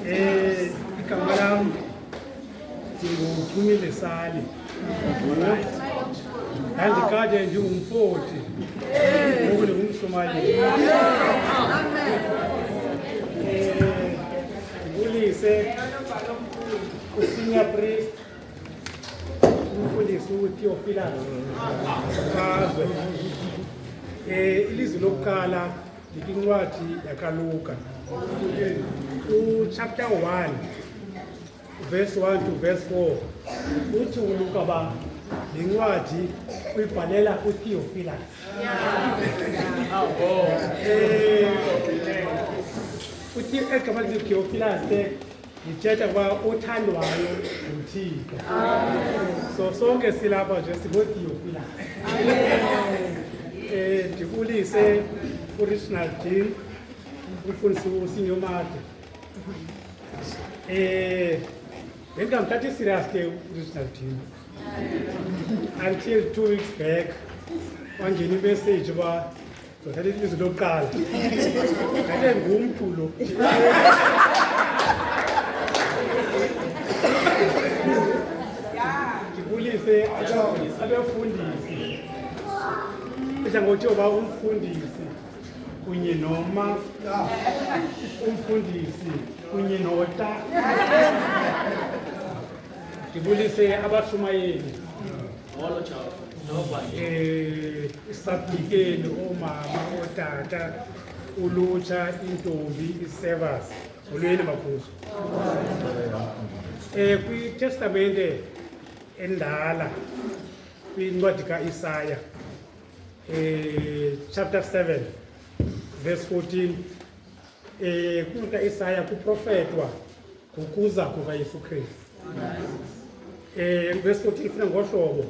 Eh, igama lam ndinguphumile sali ndandikade ndingumfoti ngoku ndingumsomaliya ndibulise usinya priest umfundisi utheofilano azwe um ilizwi lokuqala ndikwincwadi yakaluka uchapter 1 verse 1 to verse 4 uthi uluka uba le ncwadi uyibhalela utheofilas uthi egama lithi utheofilas ndithetha ukuba othandwayo nguthixo so sonke silapha nje singootiyofilayo eh, um ndibulise uriginal dean umfundisi usinyomade um eh, bendingamthathi iserious ke uriginal dean until two weeks back wangena imessage uba Ndithatha ilizwi lokuqala. Ngale ngumntu lo. Ndibulise abefundisi. Ndidla ngothi uba umfundisi kunye noma umfundisi kunye nota. Ndibulise abashumayeli. Molo Jawo. Nova eh isabhikeni omama otata ulutsha intombi isevas ulweni makhuzo eh kwitestamente endala kwincwadi kaIsaya eh chapter 7 verse 14 E, kuita Isaya kuprofetwa ngokuza kukaYesu Kristu. E, verse 14 ifuna ngohlobo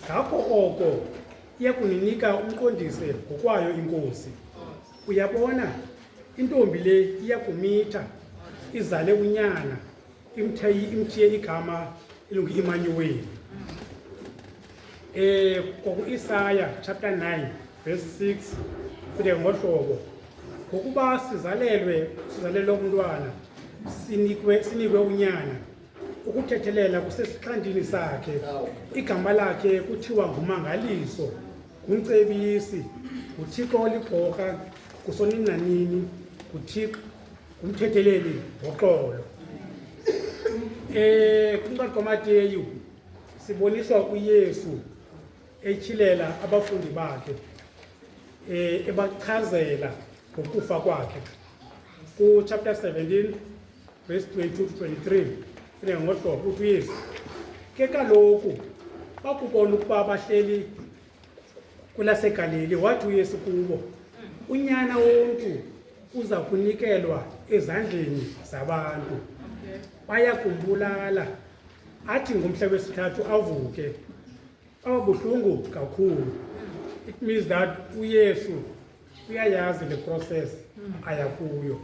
ngakho oko iyakuninika umqondise ngokwayo inkosi uyabona intombi le iyakumitha izale unyana imthiye igama elungu-imanyuweli um kwaku-isaya chapter 9 verse 6 fike ngohlobo ngokuba sizalelwe sizalelwe umntwana sinikwe sinikwe unyana ukuthethelela kusesixhandini sakhe igama lakhe kuthiwa ngumangaliso ngumcebisi nguthixo olibhorha kusoninanini nguthixo umthetheleli ngoxolo eh kuncwadi kaMateyu siboniswa uYesu etyhilela abafundi bakhe eh ebachazela ngokufa kwakhe ku chapter 17 verse 22 to 23 funeka ngohlobo uthi uYesu ke kaloku bakubona ukuba bahleli kulasegaleli wathi uyesu kubo unyana womntu uza kunikelwa ezandleni zabantu baya kumbulala athi ngomhla wesithathu avuke ababuhlungu kakhulu it means that uyesu uyayazi le process hmm. ayakuyo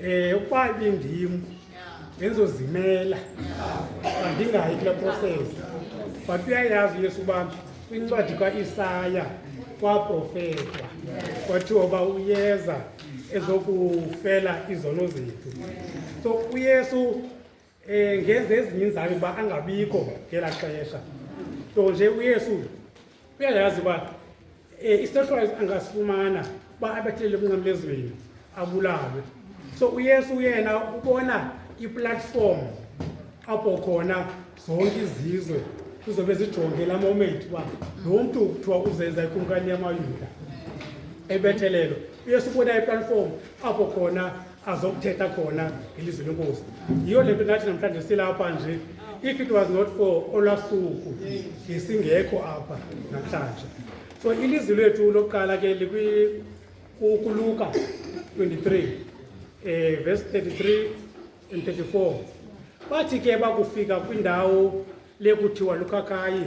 eh ukuba ibindim benzozimela andingayi kule process but uyayazi uyesu uba kwincwadi kaisaya kwaprofetwa kwathiwa uba uyeza ezokufela izono zethu so uyesu Eh ngenze ezinye izami ba angabikho ngela xesha. Nto nje uYesu uyayazi ba eh isehlwayo angasifumana ba abethelele kunqamezweni abulawe. So uYesu yena ubona iplatform apho khona zonke izizwe kuzobe zijonge la moment uba lo mntu kuthiwa uzenza ikumkani yamayuda ebethelelo uyesu ubona iplatform apho khona azokuthetha khona ngelizwi lenkosi yiyo le nto nathi namhlanje silapha nje if it was not for olwasuku ngesingekho apha namhlanje so ilizwi lethu lokuqala ke likuluka 23 eh verse 33 and 34 bathi ke bakufika kwindawo lekuthiwa lukhakhayi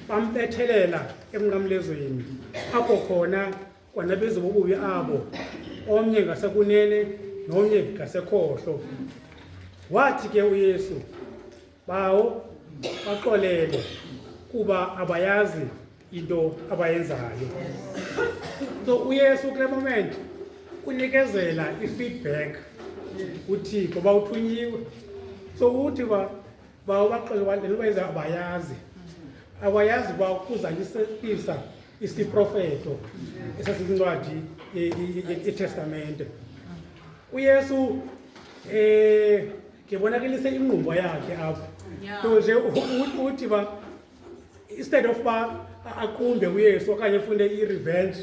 bambethelela emnqamlezweni apho khona kwanaphezu bobubi abo omnye ngasekunene nomnye ngasekhohlo wathi ke uyesu bawo baxolele kuba abayazi into abayenzayo so uyesu kule moment unikezela i-feedback uthixo uba uthunyiwe so uthi uba uba ubaxele wandela ubenza abayazi awayazi uba ukuzalisekisa isiprofeto esasincwadi itestamente uyesu um eh, ngebonakelise inqumbo yakhe apho nto nje uthi uba instead of uba aqumbe uyesu okanye fune i-revenge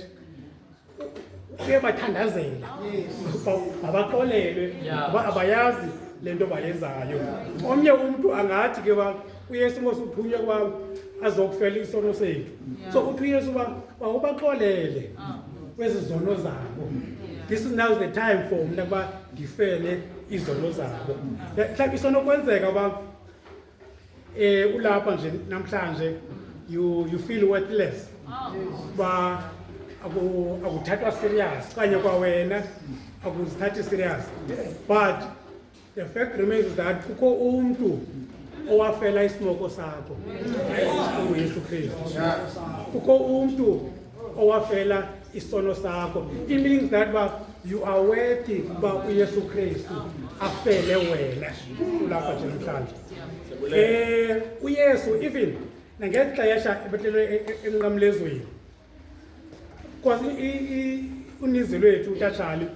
uyabathandazela mabaxolelwe ngoba abayazi le nto bayenzayo omnye umntu angathi ke uba uyesu ngosi uphunywe kwam azokufela isono sethu so uthi uyesu uba wawubaxolele ah. kwezi zono zabo this is now the time for mna ukuba ndifele izono zabo mhlawumbi isenokwenzeka uba eh ulapha nje namhlanje you you feel worthless ba aku akuthathwa serious kanye kwa wena akuzithathi serious but the fact remains is that kukho umuntu owafela isimoko sakho uyesu kristu kukho umuntu owafela isono sakho it means that uba you are worthy uba uyesu kristu afele wena ulapha nje namhlanje um uyesu even nangeli xesha ebetlelwe e-, e-, emnqamlezweni because uninzi lwethu utatshali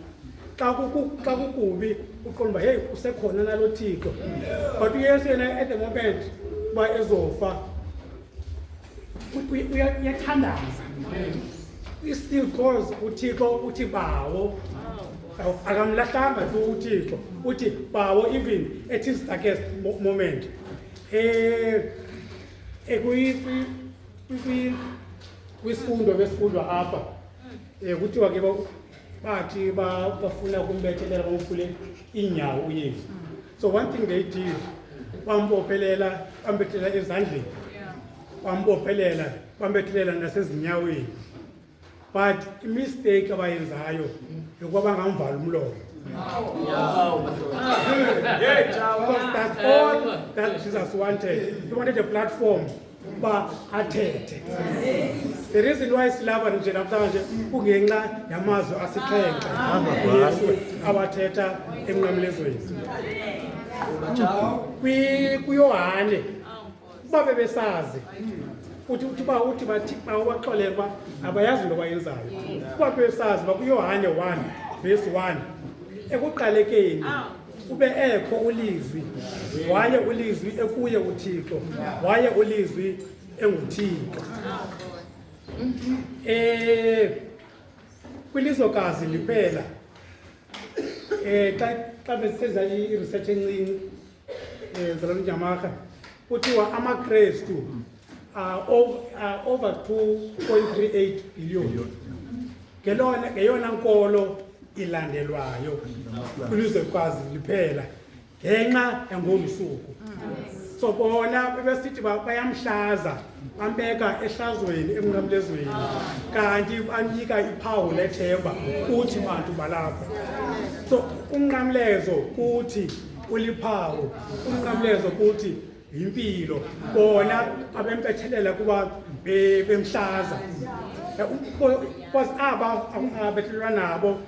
xa kukubi uqonda uba heyi usekhona nalo thixo but uyesu yena at the moment uba ezofa uyathandaza i-still cause uthixo uthi bawo akamlahlanga tu uthixo uthi bawo even at his darkest moment um kwisifundo besifundwa apha um kuthiwa ke bathi bafuna kumbethelela bamfule iinyawo uyesu So one thing they did, bambophelela, bambethela ezandleni, bambophelela, bambethela nasezinyaweni. But imistake abayenzayo yokuba bangamvala umlomo. Because that's all that Jesus wanted. He wanted a platform uba athethe the reason why silapha nje namhlanje kungenxa yamazwi asixhenxe yesu awathetha emnqamlezweni kuyohane uba bebesazi uthi uthi uba uthi bathi xa ubaxolele uba abayazi into bayenzayo uba bebesazi uba kuyohane one verse one ekuqalekeni kube ekho ulizwi waye ulizwi ekuye uthixo waye ulizwi enguthixo um kwilizwekazi liphela um xa xa besisenza i-research encinci um zalomnyamarha kuthiwa amakrestu mm. are over, are over 2.38 billion ngelona ngeyona nkolo ilandelwayo kwilizwe kwazi liphela ngenxa yangomsuku so bona bebesithi bayamhlaza bambeka ehlazweni emnqamlezweni kanti banika iphawu lethemba kuthi bantu balapha so umnqamlezo kuthi uliphawu umnqamlezo kuthi yimpilo bona abempethelela kuba bemhlaza because aba akungabehlelwa nabo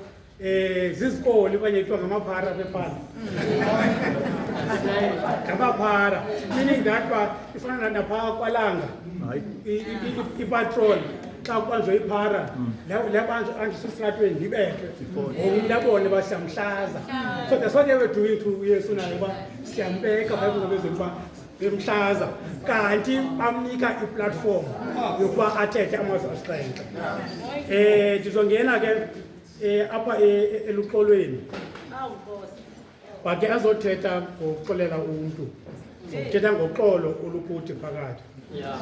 eh zizikoli kwenye kuthiwa ngamaphara bebhala ngamaphara meaning that ba ifana napha kwalanga ipatrol xa kubanjwa iphara labantu andisesitratweni ndibethwe ngokumntabone basamhlaza so that's what they were doing to yesu nayo uba siyambeka bayibona bezoluba bemhlaza kanti bamnika iplatform yokuba athethe amazwi asixhenxe um ndizongena ke um apha e, e, eluxolweni wake azothetha ngokuxolela umntu zokuthetha ngoxolo olukude phakathi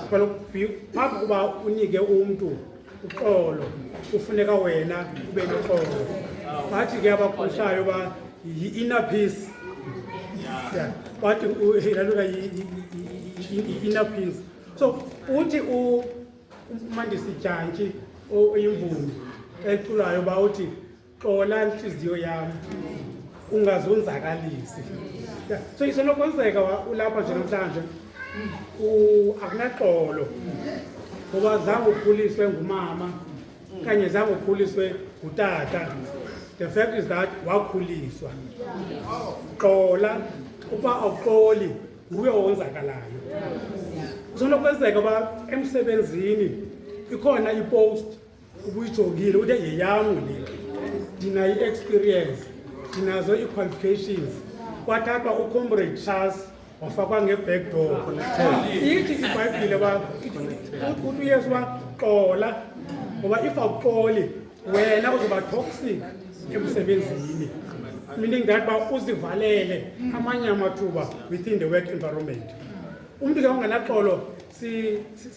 Sicela ukubhi- phambi kokuba unike umntu uxolo kufuneka wena ube noxolo bathi ke abagushayo uba yi-inner peace Yeah. bathi u- ilaluka yi- yi- yi- yi- yi-inner peace so uthi u- umandisi jantshi o- oyimvumi eculayo uba uthi xola ntliziyo yam ungazonzakalisi so isenokwenzeka ulapha nje namhlanje akunaxolo ngoba zange ukhuliswe ngumama kanye zange ukhuliswe ngutata the fact is that wakhuliswa xola uba awuxoli nguye owonzakalayo kusenokwenzeka uba emsebenzini ikhona ipost ubuyijongile ude yeyam le ndinayo i-experience ndinazo ii-qualifications kwathathwa ucomrade charles wafakwa nge-back door ithi ibhayibhile uba uthi uyesu uba xola ngoba if awuxoli wena uzoba toxic emsebenzini meaning that uba uzivalele amanye amathuba within the work environment umntu ke onganaxolo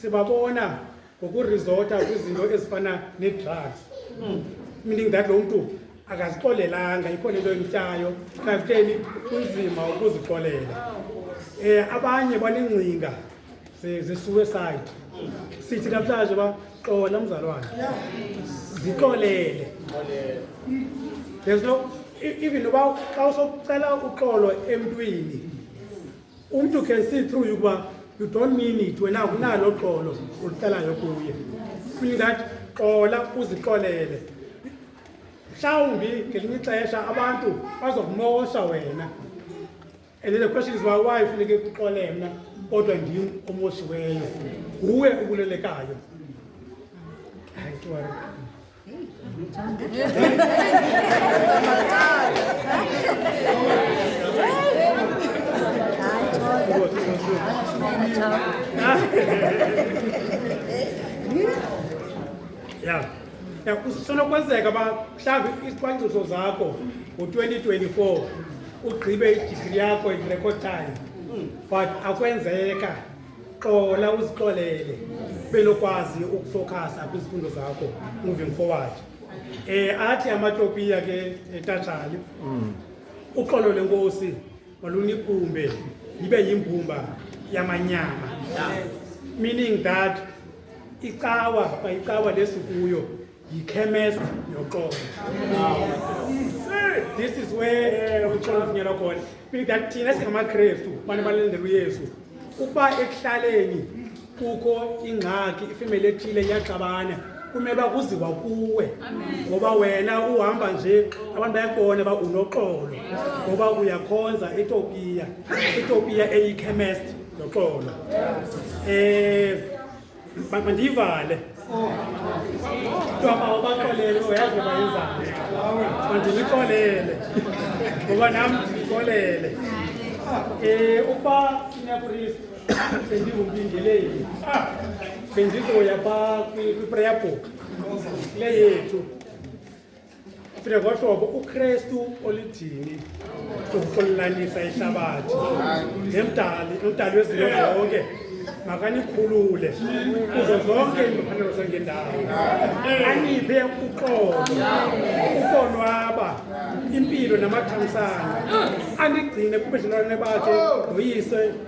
sibabona si, si ngokurizota kwizinto ezifana nee-drugs hmm. meaning that lo mntu akazixolelanga ikhona into emtyayo kakuteni kunzima ukuzixolela um abanye banengcinga ze-suicide sithi namhlanje uba xola mzalwane zixolele there's no e-, even uba xa usokucela uxolo emntwini umntu can see through you ukuba you don't mean it wena unalo xolo ulucelayo kuye mean that xola uzixolele mhlawumbi ngelinye ixesha abantu bazokumosha wena and then the question is why funeke kuxole mna kodwa ndim omoshiweyo nguwe ubulelekayo ya ya kusenokwenzeka uba mhlawumbi izicwangciso zakho ngo-2024 ugqibe idigri yakho in record time but akwenzeka xola uzixolele belokwazi ukufokhasa kwizifundo zakho moving forward eh athi amatopiya ke etatshali mm. uxolo lenkosi malunikumbe libe yimbumba yamanyama meaning that icawa bayicawa lesikuyo yikhemesti yoxolo this is where uxolo uvunyelwa khona that thina singamakrestu bani balindela uyesu ukuba ekuhlaleni kukho ingxaki ifemeli ethile iyaxabana kumele uba kuziwa kuwe ngoba wena uhamba nje abantu bayakubona uba unoxolo ngoba uyakhonza etopiya etopiya eyikhemesti noxolo um eh, mandiyivale kuthiwa bawabaxolele uyazi ngoba yenzani mandilixolele ngoba nam ndilixolele um eh, ukuba sinyapristi bendingumbingeleli bendizoya pha kwi-prayer book le yethu Fika kwahlobo uKristu olidini ukuxolanisa ihlabathi nemdali umdali wezinto zonke makanikhulule kuzo zonke iimfanelo zangendawo aniphe uxolo ukonwaba impilo namathamsana anigcine kubudlelwane bakhe noyise